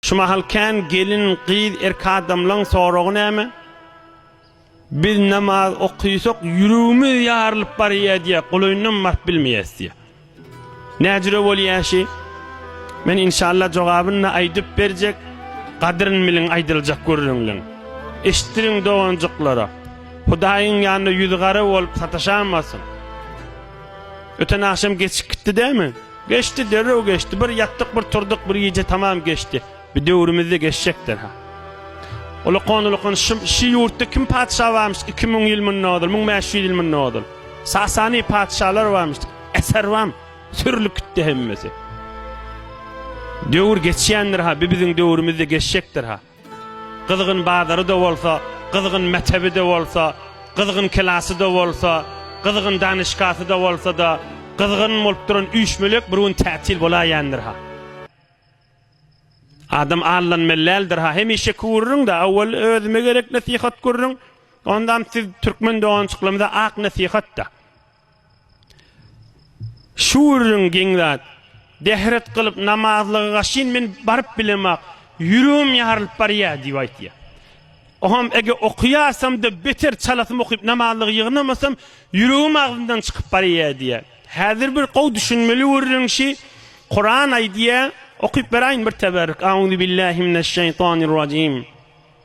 Şu mahal kän gelin, gyz, erk adamlaň soragy näme? Biz namaz okysak ýüregimiz ýarylyp barýa diýä, golaýyndan baryp bilmeýäs diýä. Näjüre bolýa şi? Men inşallah jogabyny aýdyp berjek. Gadryn biliň aýdyljak gürrüňliň. Eşitdiriň doganjyklara. Hudaýyň ýanynda ýüzi gara bolup sataşamasyn. Öten agşam geçip gitdi dämi? Geçdi, derrew geçdi. Bir ýatdyk, bir turduk, bir gije tamam geçdi. Bu döwrümizde geçjekdir, ha. Ulukan-ulukan şum, şi ýurtda kim patyşa barmyş, iki müň ýyl mundan ozal, müň bäş ýüz ýyl mundan ozal? Sasani patyşalar barmyş, eser bam, sürlüp gitdi hemmesi. Döwür geçýändir, ha, bi biziň döwrümizde geçjekdir, ha. Gyzgyn bazary-da bolsa, gyzgyn mektebi-de bolsa, gyzgyn klasy-da bolsa, gyzgyn danyşgasy-da bolsa-da, gyzgyn bolup duran üýşmelek bir gün tätil bolaýendir-ha. Adam aldanmaly däldir-ha. Hemişe kürüriň-de, awwal özüme gerek nesihat kürüriň, ondam siz türkmen dogançyklarymyza ak nesihat-da. Şu gürrüň geň zat. Dehret gylyp namazlyga gaşyn men baryp bilemok, ýüregim ýarylyp barýar diýip aýtýar. Oňam eger okaýarsam-da beter çalasym okyp namazlygy ýygnamasam ýüregim agzymdan çykyp barýar diýýär. Häzir bir gowy düşünmeli gürrüň şi, Kuran aýdýar, okyp beraýyn bir teberrük, Auzubillahi mineşşeýtanirrajim.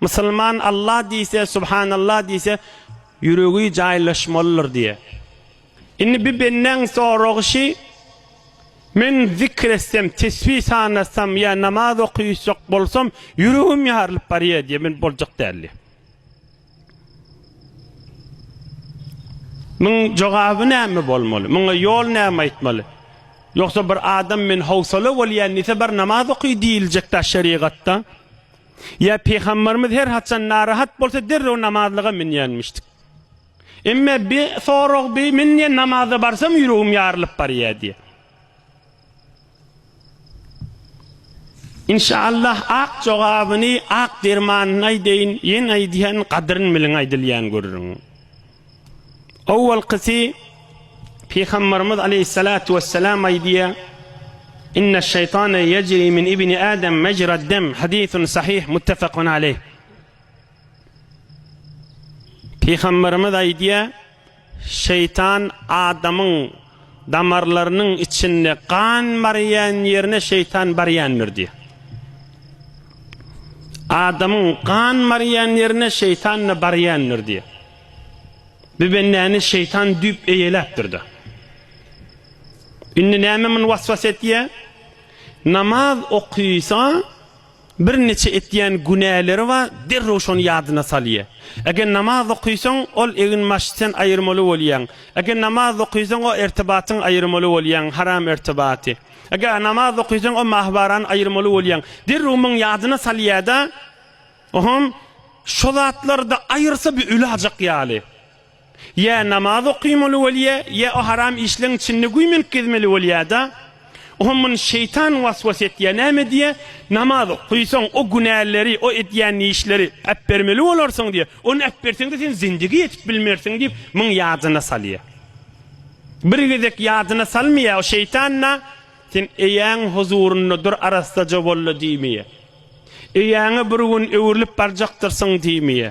Musulman Allah diýse, Subhanallah diýse, ýüregi jaýlaşmalydyr diýýär. Indi bir bendäň soragy şi, Men zikr etsem, tesbi sanasam ýa namaz okuyjak bolsam, ýüregim ýarylyp barýar diýýär, men boljak däl diýýär. Muň jogaby näme bolmaly? Muňa ýol näme aýtmaly? Ýogsa bir adam men howsala bolýan diýse, bar namaz oky diýiljek-dä şerigatda. Ýa Pygamberimiz her haçan narahat bolsa derrew namazlyga münýänmişdik. Emme bi sorag bi men diýen namaza barsam ýüregim ýarylyp barýar diýe. İnşallah ak jogabyny ak dermanyny aýdaýyn ýene aýdýan gadyryn biliň aýdylýan görüriň. Owalkysy, Pygamberimiz aleýhissalatu wessalam aýdýar, Inne şeýtane yejri min ibni Adam mejrad dem, hadisun sahih muttefakun aleyh. Pygamberimiz aýdýar, şeýtan adamyň Damarlarynyň içinde gan barýan ýerine şeýtan barýandyr diýýär. Adamyň gan barýan ýerine şeýtan-da barýandyr diýýär. Bu bendäni şeýtan düýp eýeläpdir-de. Indi näme muny waswas etýär? Namaz okysa, Bir neçe etýän günäleri bar, derrew şony ýadyna salýa. Eger namaz okysaň, ol egin-başy sen aýyrmaly bolýaň. Eger namaz okysaň, o ertibatyň aýyrmaly bolýaň, haram ertibaty. Eger namaz okysaň, o mahybarany aýyrmaly bolýaň. Derrew muny ýadyna salýa-da, Ohom, şo zatlary-da aýyrsa, bir öli ajak ýaly. Ýa namaz okamaly bolýa, ýa o haram işleň içinde güýmenip gezmeli bolýada. Oňa muny şeýtan waswas etýä, näme diýýä, namaz okaýsaň, o günäleri, o edýän işleri äpbermeli bolarsyň diýýä. Ony äpberseň-de sen zindigi ýetip bilmersiň diýip, muň ýadyna salýa. Bir gezek ýadyna salmaýa, o şeýtan-da, sen eýäň huzurynda dur arassaja bolla diýmeýä. Eýäňe bir gün öwrülip barjakdyrsyň diýmeýä.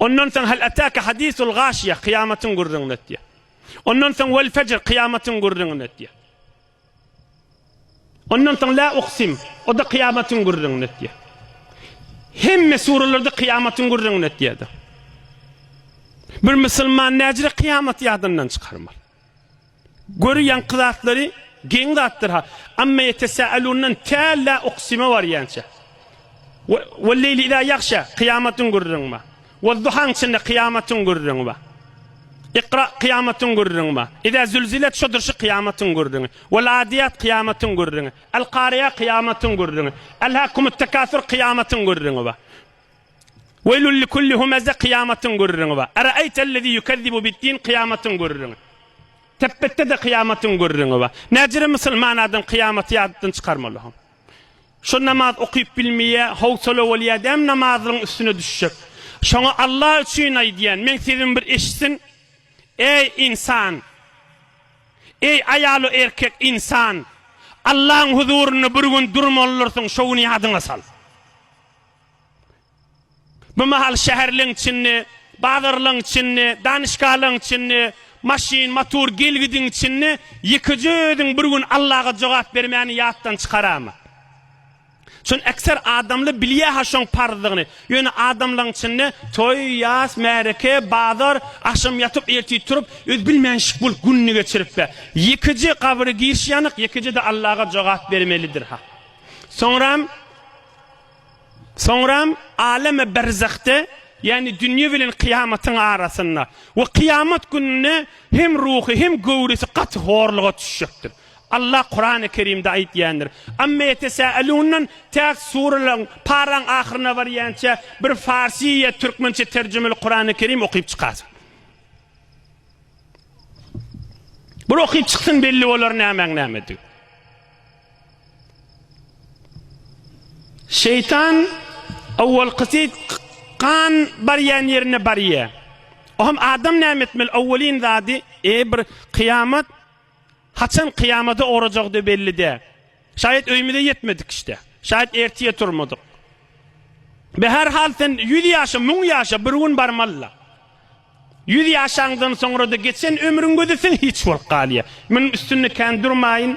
Ondan soň Hal ataka hadisul gaşiýe, kyýamatyň gürrüňini etýär. Ondan soň Vel fejr, kyýamatyň gürrüňini etýär. Ondan soň La uksim, o-da kyýamatyň gürrüňini etýär. Hemme suralarda kyýamatyň gürrüňini etýärdi. Bir musulman näjire kyýamaty ýadyndan çykarmaly. Göri ýaňky zatlary geň zatdyr ha. Amma ýetesälundan tä la uksime barýança. We we leýli ida ýagşa kyýamatyň gürrüňi ba. We duhaň içinde kyýamatyň gürrüňi ba. Ikra kyýamatyň gürrüňi ba. Ida zülzilet şodur şu kyýamatyň gürrüňi. We ladiýat kyýamatyň gürrüňi. Al kariýa kyýamatyň gürrüňi. Al hakumut takasur kyýamatyň gürrüňi ba. Weýlül likulli humeze kyýamatyň gürrüňi bar. Araeýtellezî ýukezzibu biddin kyýamatyň gürrüňi. Tepbetde-de kyýamatyň gürrüňi bar. Näcirem musulman adam kyýamaty ýatdan çykarmaly. Şu namaz okyp bilmeýä, howsala bolýa däm namazyň üstüne düşjek. Şoňa Allah üçin aýdýan, meň sesimi bir eşitsin. Eý ynsan! Eý aýalu erkek ynsan! Allahyň huzurynda bir gün durmalydyrsyn, şo güni ýadyňa sal. Bu mahal şäherleň içinde, bazarlaň içinde, danyşgahalaň içinde, maşyn, motor gelgidiň içinde ýekeje özüň bir gün Allaga jogap bermäni ýatdan çykarama. Şony ekser adamly bilýä-ha şoň parzdygyny. Ýöne adamlaň içinde toý, ýas, märeke, bazar, agşam ýatyp, ertir turup, özi bilmänşik bolup gününi geçirip-ä, ýekeje gabry girşi ýanyk, ýekeje-de Allaga jogap bermelidir-ha. Soňram. Soňram aleme berzahde, ýagny dünýe bilen kyýamatyň arasynda, we kyýamat gününde hem ruhy, hem göwresi gaty horluga düşjekdir. Allah Kurany Kerimde aýtýandyr, Amma ýetesälundan täk suralaryň, paraň ahyryna barýança bir farsy ýa türkmençe terjimeli Kurany Kerim okyp çykarsyň. Bir okyp çyksyn belli bolar nämäň näme digi. Şeýtan owalkysy gan barýan ýerine barýar. Oňam adam näme etmeli? Owalyn zady, eý bir kyýamat haçan kyýamada ugrajagdy belli däl. Şaýat öýümize ýetmedik işte. Şaýat ertire turmadyk. Be her hal sen ýüz ýaşa, müň ýaşa bir gün barmalyla. Ýüz ýaşaňdan soňra-da geçen ömrüň gözetiň hiç bolup galýar. Munuň üstünde kän durmaýyn.